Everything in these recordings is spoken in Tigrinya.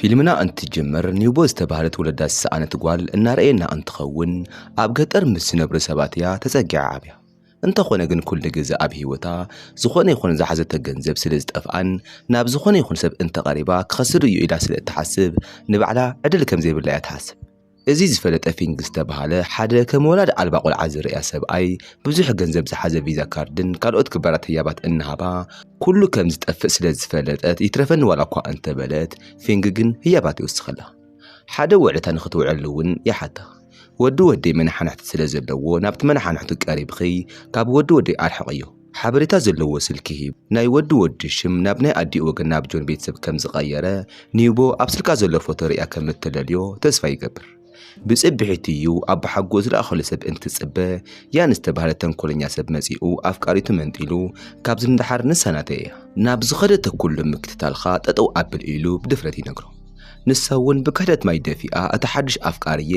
ፊልምና እንትጅምር ኒውቦ ዝተባህለት ወለዳ ዝሰኣነት ጓል እናረእየና እንትኸውን ኣብ ገጠር ምስ ዝነብሩ ሰባት እያ ተፀጊዓ ዓብያ። እንተኾነ ግን ኩሉ ግዘ ኣብ ህይወታ ዝኾነ ይኹን ዝሓዘቶ ገንዘብ ስለ ዝጠፍኣን ናብ ዝኾነ ይኹን ሰብ እንተቐሪባ ክኸስር እዩ ኢላ ስለ እትሓስብ ንባዕላ ዕድል ከም ዘይብላ እያ ትሓስብ። እዚ ዝፈለጠ ፊንግ ዝተብሃለ ሓደ ከም ወላዲ ኣልባ ቆልዓ ዝርእያ ሰብኣይ ብዙሕ ገንዘብ ዝሓዘ ቪዛ ካርድን ካልኦት ክበራት ህያባት እናሃባ ኩሉ ከም ዝጠፍእ ስለ ዝፈለጠት ይትረፈኒ ዋላ እኳ እንተበለት ፊንግ ግን ህያባት ይውስኸላ። ሓደ ውዕለታ ንኽትውዕለሉ እውን ይሓታ። ወዲ ወደይ መነሓንሕቲ ስለ ዘለዎ ናብቲ መነሓንሕቱ ቀሪብኺ ካብ ወዲ ወደይ ኣርሕቕዮ። ሓበሬታ ዘለዎ ስልኪ ሂቡ ናይ ወዲ ወዲ ሽም ናብ ናይ ኣዲኡ ወገን ናብ ጆን ቤተሰብ ከም ዝቐየረ ኒውቦ ኣብ ስልካ ዘሎ ፎቶ ርእያ ከም እተለልዮ ተስፋ ይገብር። ብጽብሒቱ እዩ ኣቦሓጎኡ ዝለኣኸሉ ሰብ እንትጽበ ያን ዝተባህለ ተንኮለኛ ሰብ መጺኡ ኣፍቃሪቱ መንጢሉ ካብዚ ንደሓር ንሳ ናተይ እያ። ናብ ዝኸደቶ ኩሉ ምክትታልካ ጠጠው ኣብል ኢሉ ብድፍረት ይነግሮ። ንሳ'ውን ብክሕደት ማይ ደፊኣ እቲ ሓድሽ ኣፍቃሪዬ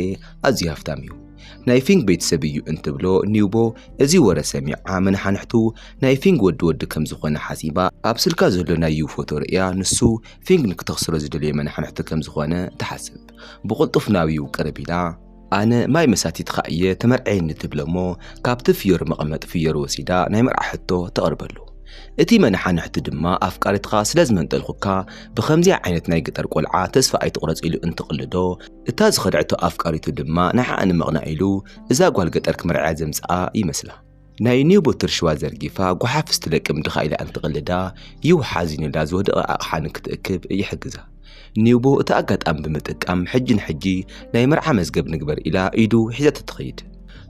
ኣዝዩ ሃፍታም እዩ። ናይ ፊንግ ቤተሰብ እዩ እንትብሎ ኒውቦ እዚ ወረ ሰሚዓ መነሓንሕቱ ናይ ፊንግ ወዲ ወዲ ከም ዝኾነ ሓሲባ ኣብ ስልካ ዘሎ ናይ ዩ ፎቶ ርእያ ንሱ ፊንግ ንክተኽስሮ ዝደለየ መነሓንሕቲ ከም ዝኾነ ትሓስብ ብቕልጡፍ ናብ ዩ ቅርብ ኢላ ኣነ ማይ መሳቲትኻ እየ ተመርዐየኒ ትብሎ እሞ ካብቲ ፍዮሪ መቐመጢ ፍዮሪ ወሲዳ ናይ መርዓ ሕቶ ተቕርበሉ እቲ መነሓንሕቲ ድማ ኣፍቃሪትኻ ስለ ዝመንጠልኩካ ብኸምዚኣ ዓይነት ናይ ገጠር ቆልዓ ተስፋ ኣይትቑረጽ ኢሉ እንትቕልዶ እታ ዝኸድዐቶ ኣፍቃሪቱ ድማ ንዓኣ ንምቕናእ ኢሉ እዛ ጓል ገጠር ክመርዕያ ዘምጽኣ ይመስላ። ናይ ኒው ቦትር ሽዋ ዘርጊፋ ጓሓፍ ስትለቅም ድኻ ኢላ እንትቕልዳ፣ ዩ ሓዚኑላ ዝወደቐ ኣቕሓ ንክትእክብ ይሕግዛ። ኒውቦ እቲ ኣጋጣሚ ብምጥቃም ሕጂ ንሕጂ ናይ መርዓ መዝገብ ንግበር ኢላ ኢዱ ሒዛቶ ትኸይድ።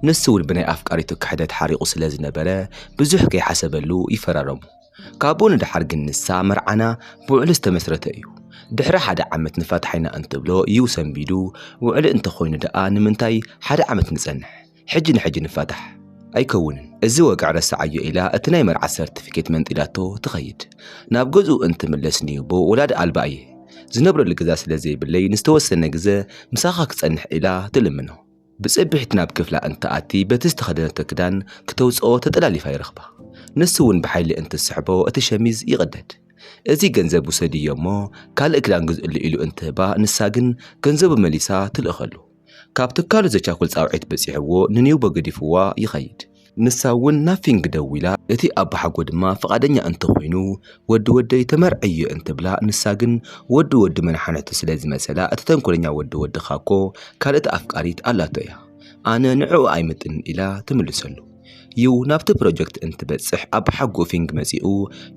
ንሱ'ውን ብናይ ኣፍቃሪቱ ክሕደት ሓሪቑ ስለዝነበረ ብዙሕ ከይሓሰበሉ ይፈራረሙ። ካብኡ ንደሓር ግን ንሳ መርዓና ብውዕሊ ዝተመስረተ እዩ። ድሕሪ ሓደ ዓመት ንፋታሕ ኢና እንትብሎ እዩ ሰንቢዱ፣ ውዕሊ እንተኾይኑ ደኣ ንምንታይ ሓደ ዓመት ንጸንሕ፣ ሕጂ ንሕጂ ንፋታሕ። ኣይከውንን እዚ ወግዒ ረስዓዮ ኢላ እቲ ናይ መርዓ ሰርትፊኬት መንጢላቶ ትኸይድ። ናብ ገዝኡ እንትምለስ ንዩቦ ወላዲ ኣልባ እየ፣ ዝነብረሉ ገዛ ስለዘይብለይ ንዝተወሰነ ግዘ ምሳኻ ክጸንሕ ኢላ ትልምኖ። ብጽብሒት ናብ ክፍላ እንትኣቲ በቲ ዝተኸደነቶ ክዳን ክተውጽኦ ተጠላሊፋ ይረኽባ። ንሱ ውን ብሓይሊ እንትስሕቦ እቲ ሸሚዝ ይቕደድ። እዚ ገንዘብ ውሰድዮ እሞ ካልእ ክዳን ግዝእሉ ኢሉ እንትህባ ንሳ ግን ገንዘቡ መሊሳ ትልእኸሉ። ካብ ትካሉ ዘቻኩል ጻውዒት በጺሕዎ ንኒውቦ ገዲፍዋ ይኸይድ። ንሳ እውን ናብ ፊንግ ደዊላ እቲ ኣባሓጎ ድማ ፍቓደኛ እንተኾይኑ ወዲ ወደይ ተመርዕዮ እንትብላ ንሳ ግን ወዲ ወዲ መናሓነቱ ስለ ዝመሰላ እቲ ተንኮለኛ ወዲ ወድኻ እኮ ካልእቲ ኣፍቃሪት ኣላቶ እያ ኣነ ንዕኡ ኣይምጥንን ኢላ ትምልሰሉ ዩ ናብቲ ፕሮጀክት እንትበጽሕ ኣባሓጎ ፊንግ መጺኡ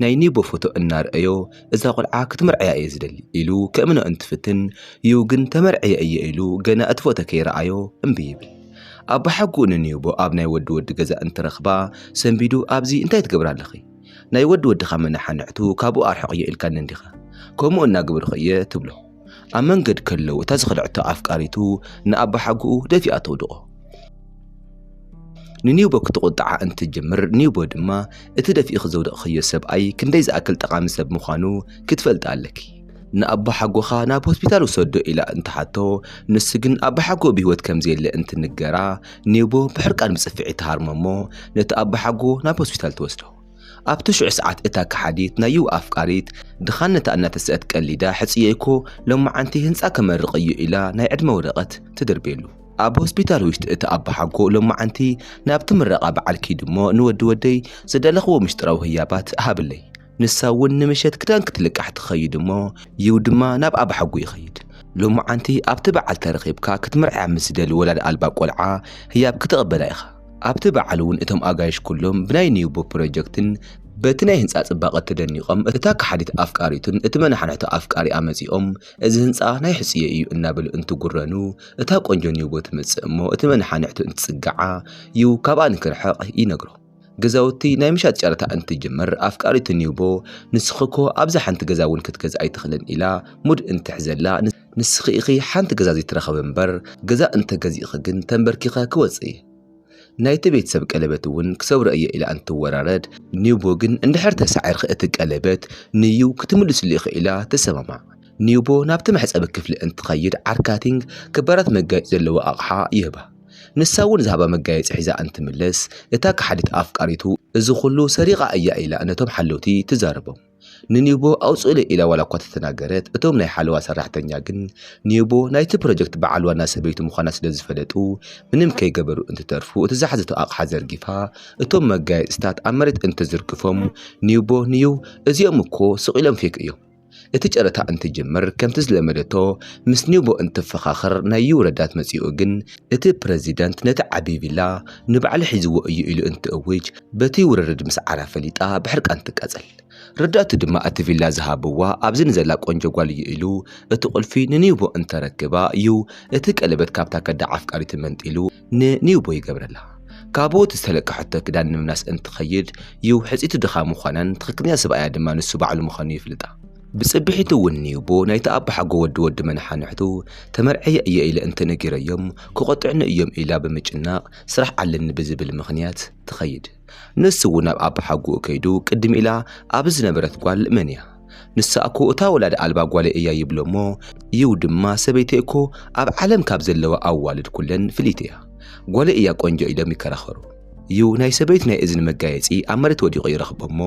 ናይ ኒቦ ፎቶ እናርኣዮ እዛ ቆልዓ ክትምርዕያ እየ ዝደሊ ኢሉ ከእምኖ እንትፍትን ዩ ግን ተመርዕየ እየ ኢሉ ገና እቲ ፎቶ ከይረኣዮ እምቢ ይብል ኣብ ብሓጉኡ ንንየቦ ኣብ ናይ ወዲ ወዲ ገዛ እንትረኽባ ሰንቢዱ ኣብዚ እንታይ ትገብራ ኣለኺ ናይ ወዲ ወድኻ መናሓንሕቱ ካብኡ ኣርሕቕዮ ኢልካኒ እንዲኻ ከምኡ እናገበርኹ እየ ትብሎ ኣብ መንገድ ከለው እታ ዝኸልዐቶ ኣፍቃሪቱ ንኣባሓጉኡ ደፊኣ ተውድቖ ንኒውቦ ክትቑጥዓ እንትጀምር ኒውቦ ድማ እቲ ደፊእኺ ዘውደቕኽዮ ሰብኣይ ክንደይ ዝኣክል ጠቓሚ ሰብ ምዃኑ ክትፈልጢ ኣለኪ ንኣቦሓጎኻ ናብ ሆስፒታል ውሰዶ ኢላ እንትሓቶ፣ ንሱ ግን ኣቦሓጎኡ ብህይወት ከም ዘየለ እንትንገራ፣ ኔቦ ብሕርቃን ብጽፍዒት ትሃርሞ እሞ ነቲ ኣቦሓጎ ናብ ሆስፒታል ትወስዶ። ኣብቲ ሽዑ ሰዓት እታ ከሓዲት ናይ ዩው ኣፍቃሪት፣ ድኻነታ እናተሰእት ቀሊዳ ሕጽየይኮ ሎምዓንቲ ህንጻ ከመርቕ እዩ ኢላ ናይ ዕድመ ወረቐት ትድርብየሉ። ኣብ ሆስፒታል ውሽጢ እቲ ኣቦሓጎ ሎምዓንቲ ናብቲ ምረቓ በዓል ኪድ እሞ ንወዲ ወደይ ዝደለኽዎ ምሽጥራዊ ህያባት ሃብለይ፣ ንሳ እውን ንምሸት ክዳን ክትልቃሕ ትኸይድ እሞ ይው ድማ ናብ ኣባሓጉ ይኸይድ ሎሙዓንቲ ኣብቲ በዓል ተረኺብካ ክትምርዕያ ምስ ዝደሊ ወላድ ኣልባ ቆልዓ ህያብ ክትቕበላ ኢኻ ኣብቲ በዓል እውን እቶም ኣጋይሽ ኩሎም ብናይ ኒውቦ ፕሮጀክትን በቲ ናይ ህንጻ ጽባቐ ተደኒቖም እታ ከሓዲት ኣፍቃሪቱን እቲ መናሕንሕቶ ኣፍቃሪኣ መጺኦም እዚ ህንጻ ናይ ሕጹየይ እዩ እናበሉ እንትጉረኑ እታ ቆንጆ ኒውቦ ትመጽእ እሞ እቲ መናሓንሕቱ እንትጽግዓ ይው ካብኣ ንክርሕቕ ይነግሮ ገዛውቲ ናይ ምሻጥ ጨረታ እንትጅምር ኣፍቃሪቱ ኒውቦ ንስኺ እኮ ኣብዛ ሓንቲ ገዛ እውን ክትገዝእ ኣይትኽእልን ኢላ ሙድ እንትሕዘላ ንስኺ ኢኺ ሓንቲ ገዛ ዘይትረኸቢ እምበር ገዛ እንተገዚእኺ ግን ተንበርኪኸ ክወፅእ እየ ናይቲ ቤተሰብ ቀለበት እውን ክሰብሮ እየ ኢላ እንትወራረድ ኒውቦ ግን እንድሕር ተሳዒርኺ እቲ ቀለበት ንዩ ክትምልስሉ ኢኺ ኢላ ትሰማማዕ። ኒውቦ ናብቲ መሕፀቢ ክፍሊ እንትኸይድ ዓርካቲንግ ክባራት መጋየፂ ዘለዎ ኣቕሓ ይህባ። ንሳ እውን ዝሃባ መጋየፂ ሒዛ እንትምለስ እታ ከሓዲት ኣፍቃሪቱ እዚ ኩሉ ሰሪቓ እያ ኢላ ነቶም ሓለውቲ ትዛረቦም። ንኒቦ ኣውፅኡለይ ኢላ ዋላ እኳ ተተናገረት እቶም ናይ ሓለዋ ሰራሕተኛ ግን ኒቦ ናይቲ ፕሮጀክት በዓል ዋና ሰበይቱ ምዃና ስለዝፈለጡ ምንም ከይገበሩ እንትተርፉ እቲ ዝሓዘቶ ኣቕሓ ዘርጊፋ እቶም መጋየፅታት ኣብ መሬት እንትዝርግፎም ኒቦ ንዩ እዚኦም እኮ ስቕ ኢሎም ፌክ እዮም እቲ ጨረታ እንትጅምር ከምቲ ዝለመደቶ ምስ ኒቦ እንትፈኻኸር ናይ ዩ ረዳት መጺኡ ግን እቲ ፕረዚደንት ነቲ ዓቢ ቪላ ንባዕሉ ሒዝዎ እዩ ኢሉ እንትእውጅ በቲ ውርርድ ምስዓራ ፈሊጣ ብሕርቃን ትቃጸል። ረዳቱ ድማ እቲ ቪላ ዝሃብዋ ኣብዚ ንዘላ ቆንጆ ጓል እዩ ኢሉ እቲ ቁልፊ ንኒቦ እንተረክባ ዩ እቲ ቀለበት ካብታ ከዳዕ ኣፍቃሪቱ መንጢሉ ንኒውቦ ይገብረላ። ካብኡ እቲ ዝተለቀሐቶ ክዳን ንምምላስ እንትኸይድ ዩ ሕጽይቱ ድኻ ምዃናን ትኽክለኛ ሰብኣያ ድማ ንሱ ባዕሉ ምዃኑ ይፍልጣ። ብጽብሒቱ እውን ኒውቦ ናይቲ ኣቦሓጎ ወዲ ወዲ መነሓንሕቱ ተመርዕየ እየ ኢለ እንተነጊረዮም ክቖጥዑኒ እዮም ኢላ ብምጭናቕ ስራሕ ኣለኒ ብዝብል ምኽንያት ትኸይድ። ንሱ እውን ናብ ኣባሓጎኡ ከይዱ ቅድም ኢላ ኣብ ዝነበረት ጓል መን እያ ንሳ እኮ እታ ወላዲ ኣልባ ጓለይ እያ ይብሎ እሞ ይው ድማ ሰበይተይ እኮ ኣብ ዓለም ካብ ዘለዋ ኣዋልድ ኩለን ፍልይቲ እያ ጓለይ እያ ቆንጆ ኢሎም ይከራኸሩ እዩ ናይ ሰበይቱ ናይ እዝኒ መጋየፂ ኣብ መሬት ወዲቑ ይረኽቦ እሞ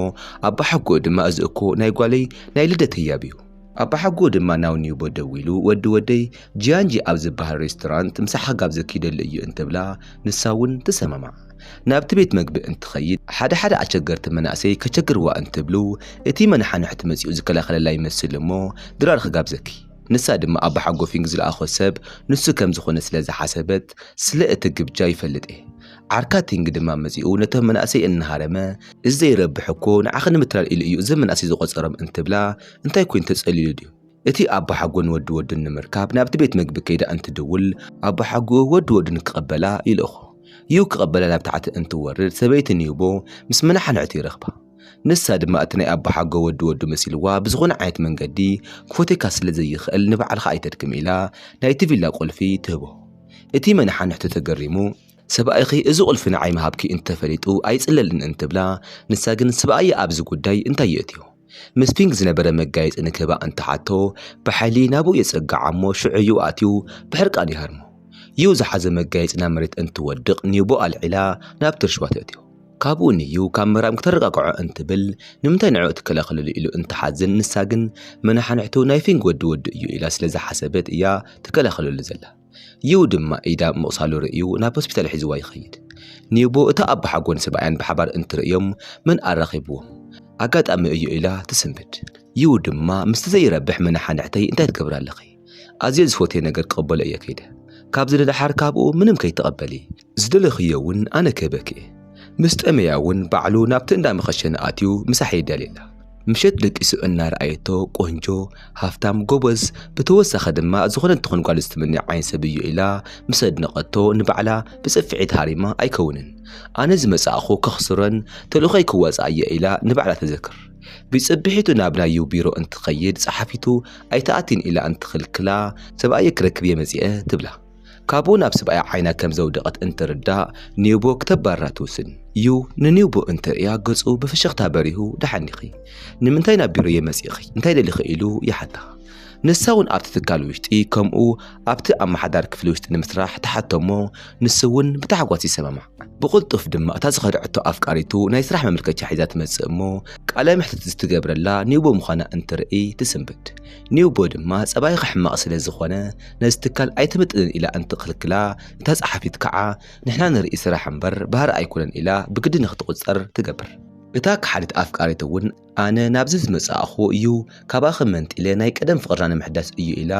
ኣባሓጎኡ ድማ እዚ እኮ ናይ ጓለይ ናይ ልደት ህያብ እዩ ኣባሓጎ ድማ ናብ ኒውቦ ደዊሉ ወዲ ወደይ ጂያንጂ ኣብ ዝበሃል ሬስቶራንት ምሳሕ ጋብ ዘኪደሉ እዩ እንትብላ ንሳ እውን ትሰማማዕ። ናብቲ ቤት መግቢ እንትኸይድ ሓደ ሓደ ኣቸገርቲ መናእሰይ ከቸግርዋ እንትብሉ እቲ መናሓንሕቲ መፂኡ ዝከላኸለላ ይመስል እሞ ድራር ክጋብ ዘኪ ንሳ ድማ ኣባሓጎ ፊንግ ዝለኣኾ ሰብ ንሱ ከምዝኾነ ስለዝሓሰበት ስለ እቲ ግብጃ ይፈልጥ እየ ዓርካ ቲንግ ድማ መጺኡ ነቶም መናእሰይ እናሃረመ እዚ ዘይረብሕ እኮ ንዓኺ ንምትላል ኢሉ እዩ እዘም መናእሰይ ዝቖጸሮም እንትብላ እንታይ ኮይኑ ተጸሊሉ ድዩ? እቲ ኣቦሓጎ ንወዲ ወዱ ንምርካብ ናብቲ ቤት መግቢ ከይዳ እንትድውል ኣቦሓጎኡ ወዲ ወዱ ንክቐበላ ይልእኾ። ዩ ክቐበላ ናብ ታሕቲ እንትወርድ ሰበይቲ ኒውቦ ምስ መናሓንሕቱ ይረኽባ። ንሳ ድማ እቲ ናይ ኣቦሓጎ ወዲ ወዱ መሲልዋ ብዝኾነ ዓይነት መንገዲ ክፎቴካ ስለ ዘይኽእል ንባዕልኻ ኣይተድክም ኢላ ናይቲ ቪላ ቁልፊ ትህቦ። እቲ መናሓንሕቱ ተገሪሙ ሰብኣይኺ እዚ ቁልፊ ንዓይ ምሃብኪ እንተፈሊጡ ኣይጽለልን እንትብላ፣ ንሳ ግን ስብኣያ ኣብዚ ጉዳይ እንታይ የእትዮ? ምስ ፊንግ ዝነበረ መጋየጺ ንክህባ እንትሓቶ፣ ብሓይሊ ናብኡ የጸግዓ እሞ ሽዑ'ዩ ኣእትዩ ብሕርቃን ይሃርሞ። ዩ ዝሓዞ መጋየጺ ናብ መሬት እንትወድቕ ኒዩቦ ኣልዒላ ናብ ትርሽዋ ተእትዮ። ካብኡ ንዩ ካብ ምህራም ክተረጋግዖ እንትብል ንምንታይ ንዕኡ ትከላኸለሉ ኢሉ እንትሓዝን ንሳ ግን መነሓንሕቱ ናይ ፊንግ ወዲ ወዱ እዩ ኢላ ስለዝሓሰበት እያ ትከላኸለሉ ዘላ። ዩ ድማ ኢዳ ምቕሳሉ ርእዩ ናብ ሆስፒታል ሒዝዋ ይኸይድ። ኒቡ እታ ኣቦሓጎን ሰብኣያን ብሓባር እንትርእዮም መን ኣራኺብዎም? ኣጋጣሚ እዩ ኢላ ትስንብድ። ዩ ድማ ምስቲ ዘይረብሕ መነሓንሕተይ እንታይ ትገብሪ ኣለኺ? ኣዝየ ዝፎትየ ነገር ክቕበሎ እየ ከይደ። ካብዚ ንደሓር ካብኡ ምንም ከይትቐበሊ። ዝደለኽዮ እውን ኣነ ክህበኪ'የ። ምስ ጠመያ እውን ባዕሉ ናብቲ እንዳ መኸሸኒ ኣትዩ ምሳሕ የዳልየላ። ምሸት ደቂሱ እናረኣየቶ ቆንጆ፣ ሃፍታም፣ ጎበዝ ብተወሳኺ ድማ ዝኾነት ትኹን ጓል ዝትምነይ ዓይነት ሰብ'ዩ ኢላ ምስ ኣድነቐቶ ንባዕላ ብጽፍዒት ሃሪማ ኣይከውንን ኣነ ዝመጻእኹ ከኽስሮን ተልእኾይ ክዋጽኣ'የ ኢላ ንባዕላ ተዘክር። ቢጽብሒቱ ናብ ናዩ ቢሮ እንትኸይድ ጸሓፊቱ ኣይትኣቲን ኢላ እንትኽልክላ ሰብኣየይ ክረክብ'የ መጺኤ ትብላ። ካብኡ ናብ ስብኣያ ዓይና ከም ዘውደቐት እንትርዳእ ኒውቦ ክተባርራ ትውስን። ዩ ንኒውቦ እንትርእያ ገጹ ብፍሽኽታ በሪሁ ደሓን ዲኺ? ንምንታይ ናብ ቢሮየ መጺእኺ? እንታይ ደሊኺ? ኢሉ ይሓታ። ንሳ ውን ኣብቲ ትካል ውሽጢ ከምኡ ኣብቲ ኣመሓዳሪ ክፍሊ ውሽጢ ንምስራሕ ትሓቶ'ሞ ንሱ ውን ብታሕጓስ ይሰማማዕ። ብቕልጡፍ ድማ እታ ዝኸድዐቶ ኣፍቃሪቱ ናይ ስራሕ መመልከቻ ሒዛ ትመጽእ'ሞ ቃለ መሕትት ዝትገብረላ ኒውቦ ምዃና እንትርእይ ትስንብድ። ኒውቦ ድማ ጸባይ ክሕመቕ ስለ ዝኾነ ነዚ ትካል ኣይትምጥንን ኢላ እንትኽልክላ እታ ጸሓፊት ከዓ ንሕና ንርኢ ስራሕ እምበር ባህሪ ኣይኮነን ኢላ ብግዲ ንክትቑጸር ትገብር። እታ ከሓዲት ኣፍቃሪት እውን ኣነ ናብዚ ዝመጻእኹዎ እዩ ካባኺ መንጢለ ናይ ቀደም ፍቕርና ንምሕዳስ እዩ ኢላ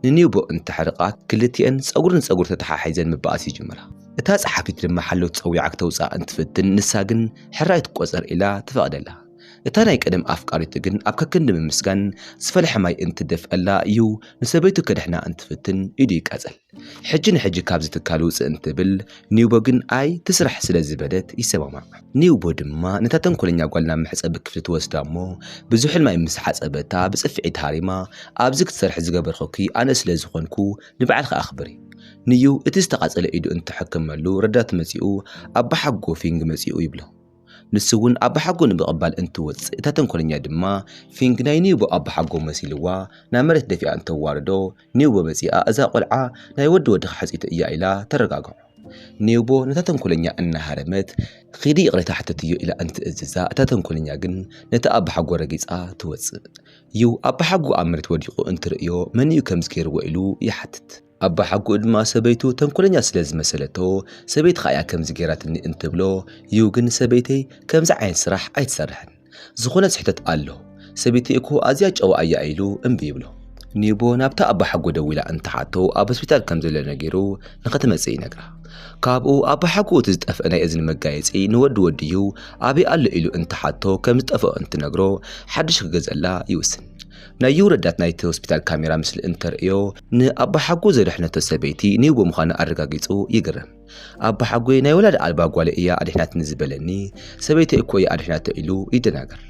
ንኒውቦ እንተሕርቃ ክልቲኤን ጸጉሪ ንጸጉሪ ተተሓሒዘን ምባኣስ ይጅምራ። እታ ጸሓፊት ድማ ሓለውቲ ጸዊዓ ክተውጽኣ እንትፍትን ንሳ ግን ሕራይ ትቆጸር ኢላ ትፈቕደላ። እታ ናይ ቀደም ኣፍቃሪቱ ግን ኣብ ከክንዲ ምምስጋን ዝፈልሐ ማይ እንትደፍኣላ እዩ ንሰበይቱ ከድሕና እንትፍትን ኢዱ ይቃጸል። ሕጂ ንሕጂ ካብዚ ትካል ውጽእ እንትብል ኒውቦ ግን ኣይ ትስራሕ ስለ ዝበለት ይሰማማዕ። ኒውቦ ድማ ነታ ተንኮለኛ ጓል ናብ መሕጸቢ ክፍሊ ትወስዳ እሞ ብዙሕን ማይ ምስ ሓጸበታ ብጽፍዒት ሃሪማ ኣብዚ ክትሰርሒ ዝገበርኩኪ ኣነ ስለ ዝኾንኩ ንባዕልኺ ኣኽብሪ። ንዩ እቲ ዝተቓጸለ ኢዱ እንትሕክመሉ ረዳት መጺኡ ኣቦሓጎ ፊንግ መጺኡ ይብሎ። ንሱ እውን ኣባሓጎ ንምቕባል እንትወፅእ እታ ተንኮለኛ ድማ ፊንግ ናይ ኒውቦ ኣባሓጎ መሲልዋ ናብ መሬት ደፊኣ እንተዋርዶ ኒውቦ መፂኣ እዛ ቆልዓ ናይ ወዲ ወድኻ ሕፅይቲ እያ ኢላ ተረጋግዖ። ኒውቦ ነታ ተንኮለኛ እናሃረመት ኺዲ ይቕሬታ ሕተትዮ ኢላ እንትእዝዛ እታ ተንኮለኛ ግን ነቲ ኣባሓጎ ረጊፃ ትወፅእ። ዩ ኣባሓጎ ኣብ መሬት ወዲቑ እንትርእዮ መንዩ ከምዚ ገይርዎ ኢሉ ይሓትት። ኣባሓጉኡ ድማ ሰበይቱ ተንኮለኛ ስለ ዝመሰለቶ ሰበይቲ ከኣያ ከምዚ ገይራትኒ እንትብሎ እዩ ግን ሰበይተይ ከምዚ ዓይነት ስራሕ ኣይትሰርሕን ዝኾነ ስሕተት ኣሎ ሰበይተይ እኮ ኣዝያ ጨዋ ኣያ ኢሉ እምቢ ይብሎ። ኒቦ ናብታ ኣባሓጎ ደዊላ እንትሓቶ ኣብ ሆስፒታል ከም ዘሎ ነጊሩ ንኸትመጽእ ይነግራ። ካብኡ ኣባሓጎኡ እቲ ዝጠፍአ ናይ እዝኒ መጋየጺ ንወዲ ወድዩ ኣበይ ኣሎ ኢሉ እንትሓቶ ከም ዝጠፍኦ እንትነግሮ ሓድሽ ክገዝኣላ ይውስን። ናይ ዩ ረዳት ናይቲ ሆስፒታል ካሜራ ምስሊ እንተርእዮ ንኣባሓጎ ዘድሐነቶ ሰበይቲ ኔጎ ምዃና ኣረጋጊጹ ይግረም። ኣባሓጎይ ናይ ወላዲ ኣልባ ጓለይ እያ ኣድሒናትኒ ዝበለኒ፣ ሰበይተይ እኮ እያ ኣድሒናቶ ኢሉ ይደናገር።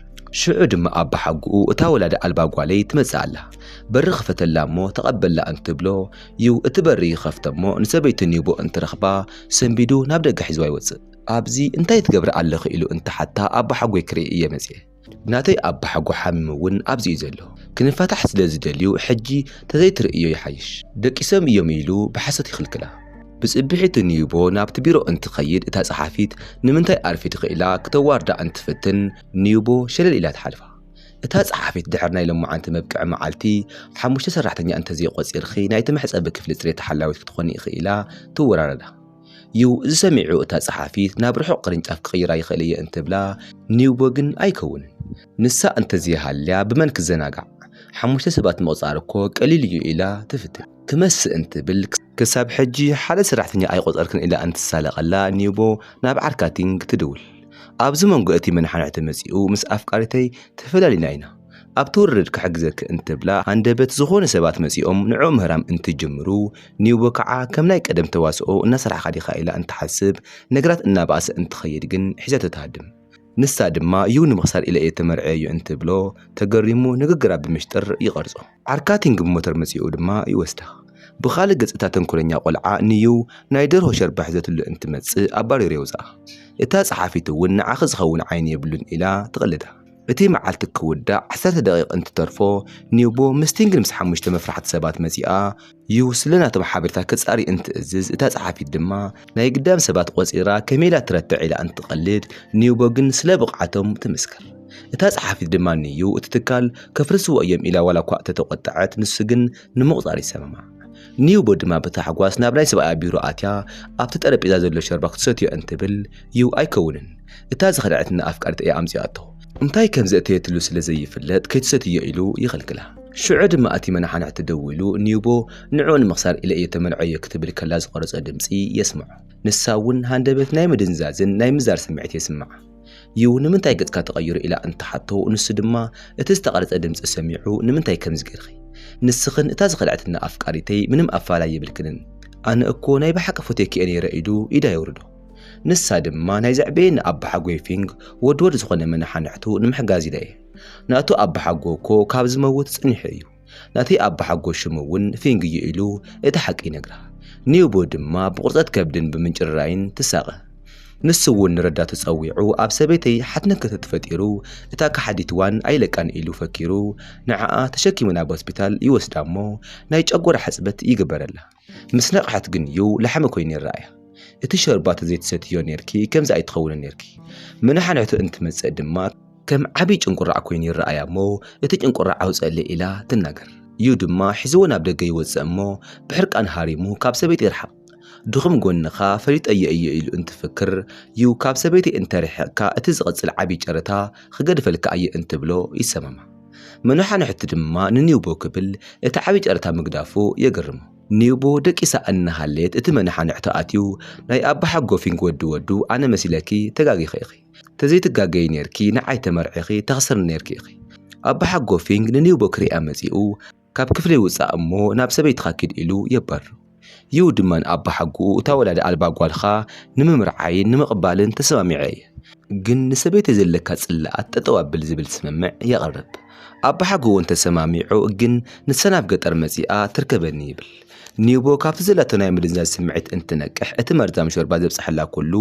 ሽዑ ድማ ኣባሓጎኡ እታ ወላዲ ኣልባ ጓለይ ትመጽእ ኣላ፣ በሪ ክፈተላ እሞ ተቐበላ እንትብሎ ዩ እቲ በሪ ይኸፍት እሞ ንሰበይቱ ኔጎ እንትረኽባ ሰንቢዱ ናብ ደገ ሒዝዋ ይወጽእ። ኣብዚ እንታይ ትገብሪ ኣለኺ ኢሉ እንትሓታ ኣባሓጎይ ክርኢ እየ መጺኤ። ናተይ ኣባሓጎ ሓሚሙ ውን ኣብዚ እዩ ዘሎ ክንፋታሕ ስለ ዝደልዩ ሕጂ ተዘይትርእዮ ይሓይሽ ደቂሶም እዮም ኢሉ ብሓሶት ይኽልክላ። ብጽብሒቱ ንዩቦ ናብቲ ቢሮ እንትኸይድ እታ ጸሓፊት ንምንታይ ኣርፊድኺ ኢላ ክተዋርዳ እንትትፍትን ንዩቦ ሸለል ኢላ ትሓልፋ። እታ ጸሓፊት ድሕሪ ናይ ሎማዓንቲ መብቅዒ መዓልቲ ሓሙሽተ ሰራሕተኛ እንተዘይቖጺርኺ ናይቲ መሕጸቢ ክፍሊ ጽሬት ሓላዊት ክትኾኒ ኢኺ ኢላ ትወራረዳ። ዩ፣ እዚ ሰሚዑ እታ ጸሓፊት ናብ ርሑቕ ቅርንጫፍ ክቕይራ ይኽእል እየ እንትብላ ኒውቦ ግን ኣይከውንን ንሳ እንተዘይሃልያ ብመን ክዘናጋዕ ሓሙሽተ ሰባት ምቕጻር እኮ ቀሊል እዩ ኢላ ትፍትን ክመስእ እንትብል ክሳብ ሕጂ ሓደ ሰራሕተኛ ኣይቖጸርክን ኢላ እንትሳለቐላ ኒውቦ ናብ ዓርካቲንግ ትድውል ኣብዚ መንጎ እቲ መነሓንሕቲ መጺኡ ምስ ኣፍቃሪተይ ተፈላሊና ኢና ኣብ ትውርድ ክሕግዘኪ እንትብላ ሃንደበት ዝኾኑ ሰባት መጺኦም ንዕኡ ምህራም እንትጅምሩ ኒውቦ ከዓ ከም ናይ ቀደም ተዋስኦ እናሰራሕኻ ዲኻ ኢላ እንትሓስብ ነገራት እናበኣሰ እንትኸይድ ግን ሒዛቶ ትሃድም። ንሳ ድማ ዩ ንምኽሳር ኢለ እየ ተመርዕየዮ እንትብሎ ተገሪሙ ንግግራ ብምሽጥር ይቐርጾ። ዓርካቲንግ ብሞተር መጺኡ ድማ ይወስዳ። ብኻልእ ገጽ እታ ተንኮለኛ ቆልዓ ንዩ ናይ ደርሆ ሸርባ ሒዘትሉ እንትመጽእ ኣባሪሩ የውጽኣ። እታ ጸሓፊት እውን ንዓኺ ዝኸውን ዓይኒ የብሉን ኢላ ትቕልዳ። እቲ መዓልቲ ክውዳእ ዓሰርተ ደቒቕ እንትተርፎ፣ ኒውቦ ምስ ቲንግል ምስ ሓሙሽተ መፍራሕቲ ሰባት መጺኣ፣ ዩ ስለ ናቶም ሓበሬታ ክጻሪ እንትእዝዝ፣ እታ ጸሓፊት ድማ ናይ ግዳም ሰባት ቆጺራ ከመይ ኢላ ትረትዕ ኢላ እንትትቐልድ፣ ኒውቦ ግን ስለ ብቕዓቶም ትምስክር። እታ ጸሓፊት ድማ ንዩ እቲ ትካል ከፍርስዎ እዮም ኢላ ዋላኳ እተተቖጠዐት፣ ንሱ ግን ንምቑጻር ይሰማማዕ። ኒውቦ ድማ ብታሕጓስ ናብ ናይ ሰብኣያ ቢሮ ኣትያ ኣብቲ ጠረጴዛ ዘሎ ሸርባ ክትሰትዮ እንትብል ዩ ኣይከውንን እታ ዝኸደዐትና ኣፍቃሪት እያ ኣምጺኣቶ እንታይ ከም ዘእተየትሉ ስለ ዘይፍለጥ ከይትሰትዮ ኢሉ ይኽልክላ። ሽዑ ድማ እቲ መናሓንሕቲ ደዊሉ ኒውቦ ንዕኡ ንምኽሳር ኢለ እየ ተመንዐዮ ክትብል ከላ ዝቐረጾ ድምጺ የስምዖ። ንሳ ውን ሃንደበት ናይ ምድንዛዝን ናይ ምዛር ስምዒት የስምዓ። ዩ ንምንታይ ገጽካ ተቐይሩ ኢላ እንትሓቶ ንሱ ድማ እቲ ዝተቐርጸ ድምጺ ሰሚዑ ንምንታይ ከምዚ ጌርኺ ንስኽን እታ ዝኸድዐትና ኣፍቃሪተይ ምንም ኣፋላይ የብልክንን ኣነ እኮ ናይ ብሓቂ ፎትየኪ እየ ኔረ ኢሉ ኢዳ የውርዶ ንሳ ድማ ናይ ዘዕበየኒ ኣባሓጎይ ፊንግ ወድወድ ዝኾነ መነሓንሕቱ ንምሕጋዝ ኢለ እየ ናቱ ኣባሓጎ እኮ ካብ ዝመውት ጸኒሑ እዩ ነቲ ኣባሓጎ ሽሙ እውን ፊንግ'ዩ ኢሉ እቲ ሓቂ ይነግራ። ኒውቦ ድማ ብቑርጸት ከብድን ብምንጭርራይን ትሳቐ። ንሱ እውን ንረዳቱ ጸዊዑ ኣብ ሰበይተይ ሓትነት ክፍተት ፈጢሩ እታ ከሓዲት ዋን ኣይለቃን ኢሉ ፈኪሩ ንዓኣ ተሸኪሙ ናብ ሆስፒታል ይወስዳ'ሞ ናይ ጨጎራ ሕጽበት ይግበረላ። ምስ ነቕሐት ግን እዩ ላሕሚ ኮይኑ ይረኣያ። እቲ ሾርባ ተዘይትሰትይዮ ኔርኪ ከምዚ ኣይትኸውንን ኔርኪ። ምንሓንሕቱ እንትመጽእ ድማ ከም ዓቢ ጭንቁራዕ ኮይኑ ይረኣያ እሞ እቲ ጭንቁራዕ ኣውጽኣለይ ኢላ ትናገር። እዩ ድማ ሒዝዎ ናብ ደገ ይወጽእ እሞ ብሕርቃን ሃሪሙ ካብ ሰበይቲ ይርሓቕ። ድኹም ጎንኻ ፈሊጠዮ እየ ኢሉ እንትፍክር እዩ ካብ ሰበይተይ እንተሪሒቕካ እቲ ዝቕጽል ዓቢ ጨረታ ክገድፈልካ እየ እንትብሎ ይሰማማዕ። መነሓንሕቲ ድማ ንኒውቦ ክብል እቲ ዓብዪ ጨረታ ምግዳፉ የግርም። ኒውቦ ደቂሳ እናሃለየት እቲ መነሓንሕቲ ኣትዩ ናይ ኣባሓጎፊንግ ወዲ ወዱ ኣነ መሲለኪ ተጋጊኺ ኢኺ ተዘይትጋገዪ ኔርኪ ንዓይ ተመርዒኺ ተኽስርኒ ኔርኪ ኢኺ ኣባሓጎፊንግ ንኒውቦ ክሪኣ መፂኡ ካብ ክፍለይ ውጻእ እሞ ናብ ሰበይትኻ ኪድ ኢሉ የባርሮ። ዩ ድማ ንኣባሓጎኡ እታ ወላዲ ኣልባ ጓልኻ ንምምርዓይን ንምቕባልን ተሰማሚዐ እየ፣ ግን ንሰበይተይ ዘለካ ጽላኣት ጠጠው ኣብል ዝብል ስምምዕ የቕርብ። ኣባሓጎ እውን ተሰማሚዑ ግን ንሳ ናብ ገጠር መጺኣ ትርከበኒ ይብል። ኒውቦ ካብቲ ዘላቶ ናይ ምድንዛዝ ስምዒት እንትትነቅሕ እቲ መርዛም ሾርባ ዘብጽሓላ ኩሉ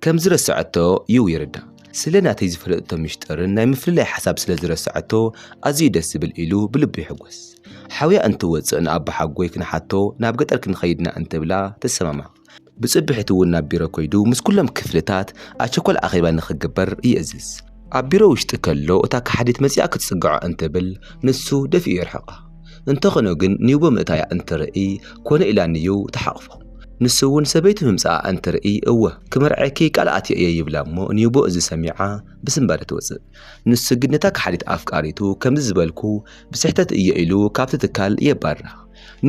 ከም ዝረሰዐቶ ዩ ይርዳእ። ስለ ናተይ ዝፈለጠቶ ምሽጥርን ናይ ምፍልላይ ሓሳብ ስለ ዝረሰዐቶ ኣዝዩ ደስ ዝብል ኢሉ ብልቡ ይሕጎስ። ሓውያ እንትወጽእ ንኣቦሓጎይ ክንሓቶ ናብ ገጠር ክንኸይድ ኢና እንትብላ ትሰማማዕ። ብጽብሒቱ ውን ናብ ቢሮ ከይዱ ምስ ኩሎም ክፍልታት ኣቸኳል ኣኼባ ንኽግበር ይእዝዝ። ኣብ ቢሮ ውሽጢ ከሎ እታ ከሓዲት መጺኣ ክትጽግዖ እንትብል ንሱ ደፊኡ የርሕቓ። እንተኾነ ግን ኒውቦ ምእታያ እንትርእይ ኮነ ኢላ ንዩው ትሓቕፎ። ንሱ እውን ሰበይቱ ምምጻኣ እንትርእይ እወ ክምርዐኪ ቃል ኣትየ እየ ይብላ እሞ ኒውቦ እዚ ሰሚዓ ብስንባደ ትወጽእ። ንሱ ግን ነታ ከሓዲት ኣፍቃሪቱ ከምዚ ዝበልኩ ብስሕተት እየ ኢሉ ካብቲ ትካል የባርራ።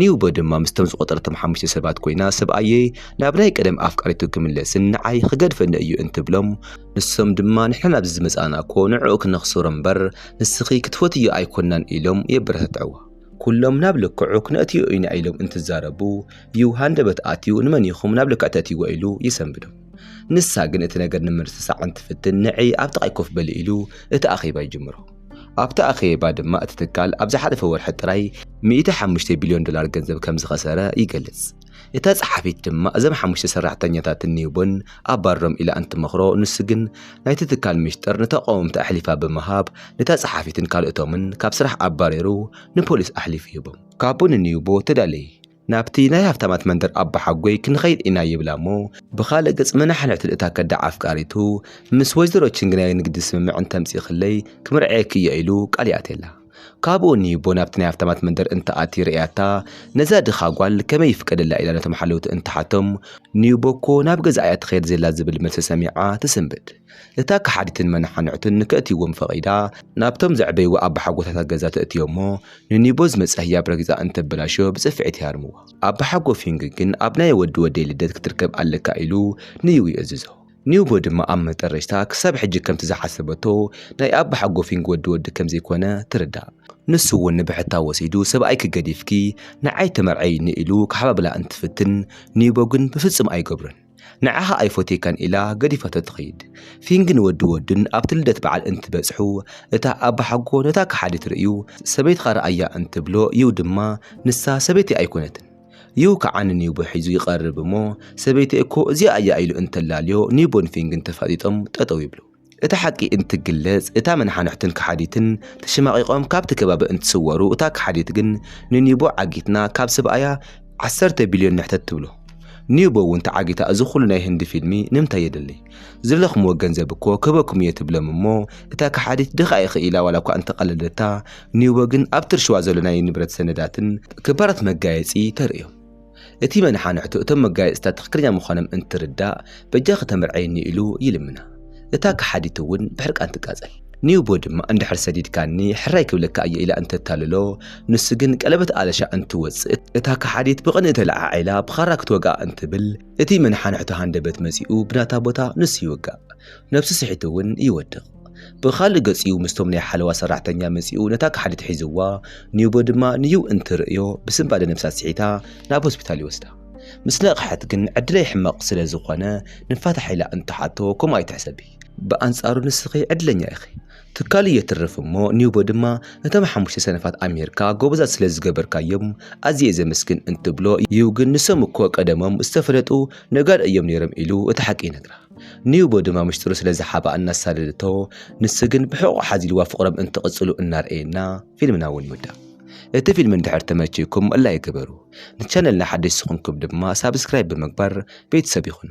ኒውቦ ድማ ምስቶም ዝቖጸረቶም ሓሙሽተ ሰባት ኮይና ሰብኣየይ ናብ ናይ ቀደም ኣፍቃሪቱ ክምለስን ንዓይ ክገድፈኒ እዩ እንትብሎም ንሶም ድማ ንሕና ናብዚ ዝመጻእና እኮ ንዕኡ ክነኽስሮ እምበር ንስኺ ክትፈትዮ ኣይኮናን ኢሎም የበረታትዕዋ። ኩሎም ናብ ልክዑ ክነእትዮ ኢና ኢሎም እንትዛረቡ ዩ ሃንደበት ኣትዩ ንመን ኢኹም ናብ ልክዕ ተእትይዎ ኢሉ የሰንብዶም። ንሳ ግን እቲ ነገር ንምርስሳዕ እንትፍትን ንዒ ኣብ ጥቓይ ኮፍ በሊ ኢሉ እቲ ኣኼባ ይጅምሮ። ኣብቲ ኣኼባ ድማ እቲ ትካል ኣብ ዝሓለፈ ወርሒ ጥራይ 105 ቢልዮን ዶላር ገንዘብ ከም ዝኸሰረ ይገልጽ። እታ ጸሓፊት ድማ እዞም ሓሙሽተ ሰራሕተኛታት ኒውቦን ኣባርሮም ኢላ እንትመኽሮ ንሱ ግን ናይቲ ትካል ምሽጥር ንተቓወምቲ ኣሕሊፋ ብምሃብ ነታ ጸሓፊትን ካልኦቶምን ካብ ስራሕ ኣባሪሩ ንፖሊስ ኣሕሊፉ ሂቦም። ካቦ ንኒውቦ ተዳለየ ናብቲ ናይ ሃብታማት መንደር ኣባሓጎይ ክንኸይድ ኢና ይብላ እሞ ብኻልእ ገጽ መናሕንሕቱን እታ ከዳዕ ኣፍቃሪቱ ምስ ወይዘሮ ቺንግ ናይ ንግዲ ስምምዕ እንተምጺእክለይ ክምርዐየኪ እየ ኢሉ ቃል ይኣትየላ። ካብኡ ንሂቦ ናብቲ ናይ ሃብታማት መንደር እንተኣትዩ ርእያታ ነዛ ድኻ ጓል ከመይ ይፍቀደላ ኢላ ነቶም ሓለውቲ እንትሓቶም ንሂቦ እኮ ናብ ገዛኣ እያ ትኸየድ ዘላ ዝብል መልሲ ሰሚዓ ትስንብድ። እታ ከሓዲትን መነሓንዕቱን ንከእትይዎም ፈቒዳ፣ ናብቶም ዘዕበይዋ ኣባሓጎታታ ገዛ ተእትዮም'ሞ፣ ንኒቦ ዝመጽኣ ህያብ ረጊጻ እንተበላሽዮ ብጽፍዒት ይሃርምዋ። ኣባሓጎ ፊንግ ግን ኣብ ናይ ወዲ ወደይ ልደት ክትርከብ ኣለካ ኢሉ ንዩ ይእዝዞ። ኒቦ ድማ ኣብ መጠረሽታ ክሳብ ሕጂ ከምቲ ዝሓሰበቶ ናይ ኣባሓጎ ፊንግ ወዲ ወዲ ከምዘይኮነ ትርዳእ። ንሱ'ውን ንብሕታ ወሲዱ ሰብኣይኪ ገዲፍኪ ንዓይ ተመርዐይኒ ኢሉ ክሓባብላ እንትፍትን፣ ኒቦ ግን ብፍጹም ኣይገብሮን። ንዓኻ ኣይፎትየካን ኢላ ገዲፋቶ ትኸይድ። ፊንግን ወዲ ወዱን ኣብቲ ልደት በዓል እንትበጽሑ፣ እታ ኣባሓጎ ነታ ከሓዲት ርእዩ ሰበይትኻ ርኣያ እንትብሎ ዩ ድማ ንሳ ሰበይተይ ኣይኮነትን ዩ ከኣ ንኒውቦ ሒዙ ይቐርብ እሞ ሰበይተይ እኮ እዚኣ እያ ኢሉ እንተላልዮ ኒውቦን ፊንግን ተፋጢጦም ጠጠው ይብሉ። እቲ ሓቂ እንትግለጽ እታ መነሓንሕትን ከሓዲትን ተሸማቒቖም ካብቲ ከባቢ እንትስወሩ እታ ከሓዲት ግን ንኒቦ ዓጊትና ካብ ሰብኣያ ዓሰርተ ቢልዮን ንሕተት ትብሎ። ኒቦ እውን ተዓጊታ እዚ ኩሉ ናይ ህንዲ ፊልሚ ንምንታይ የድሊ? ዝደለኽምዎ ገንዘብ እኮ ክህበኩም እየ ትብሎም እሞ እታ ከሓዲት ድኻ ኢኺ ኢላ ዋላ እኳ እንተቐለደታ ኒቦ ግን ኣብቲ ርሽዋ ዘሎ ናይ ንብረት ሰነዳትን ክባራት መጋየጺ ተርእዮም። እቲ መነሓንሕቱ እቶም መጋየፅታት ትኽክለኛ ምዃኖም እንትርዳእ በጃኺ ተመርዕይኒ ኢሉ ይልምና። እታ ከሓዲት እውን ብሕርቃን ትቃፀል። ኒውቦ ድማ እንድሕር ሰዲድካኒ ሕራይ ክብለካ እየ ኢላ እንተታልሎ ንሱ ግን ቀለበት ኣለሻ እንትወፅእ እታ ከሓዲት ብቕንኢ ተለዓዒላ ብኻራ ክትወግኣ እንትብል እቲ መነሓንሕቱ ሃንደበት መፂኡ ብናታ ቦታ ንሱ ይውጋእ። ነብሱ ስሒቱ እውን ይወድቕ። ብኻልእ ገጺኡ ምስቶም ናይ ሓለዋ ሰራሕተኛ መጺኡ ነታ ካሓዲት ሒዝዋ ኒውቦ ድማ ንዩው እንትርእዮ ብስንባደ ነብሳ ስሒታ ናብ ሆስፒታል ይወስዳ። ምስ ነቕሐት ግን ዕድለይ ሕማቕ ስለ ዝኾነ ንፋታሕ ኢላ እንትሓቶ ከምኡ ኣይትሕሰቢ ብኣንጻሩ ንስኺ ዕድለኛ ኢኺ ትካል'ዩ የትርፍ እሞ ኒውቦ ድማ ነቶም ሓሙሽተ ሰነፋት ኣምሂርካ ጎበዛት ስለ ዝገበርካዮም ኣዝየ እየ ዘመስግን እንትብሎ ዩው ግን ንሶም እኮ ቀደሞም ዝተፈለጡ ነጋዶ እዮም ኔሮም ኢሉ እቲ ሓቂ ይነግራ። ንዩቦ ድማ ምሽጥሩ ስለ ዝሓባ እናሳደደቶ ንሱ ግን ብሕቑ ሓዚልዋ ፍቕሮም እንትቕፅሉ እናርኣየና ፊልምና እውን ይውዳእ። እቲ ፊልም እንድሕር ተመችይኩም ላይክ ግበሩ። ንቻነልና ሓደሽ ዝኾንኩም ድማ ሳብስክራይብ ብምግባር ቤተሰብ ይኹኑ።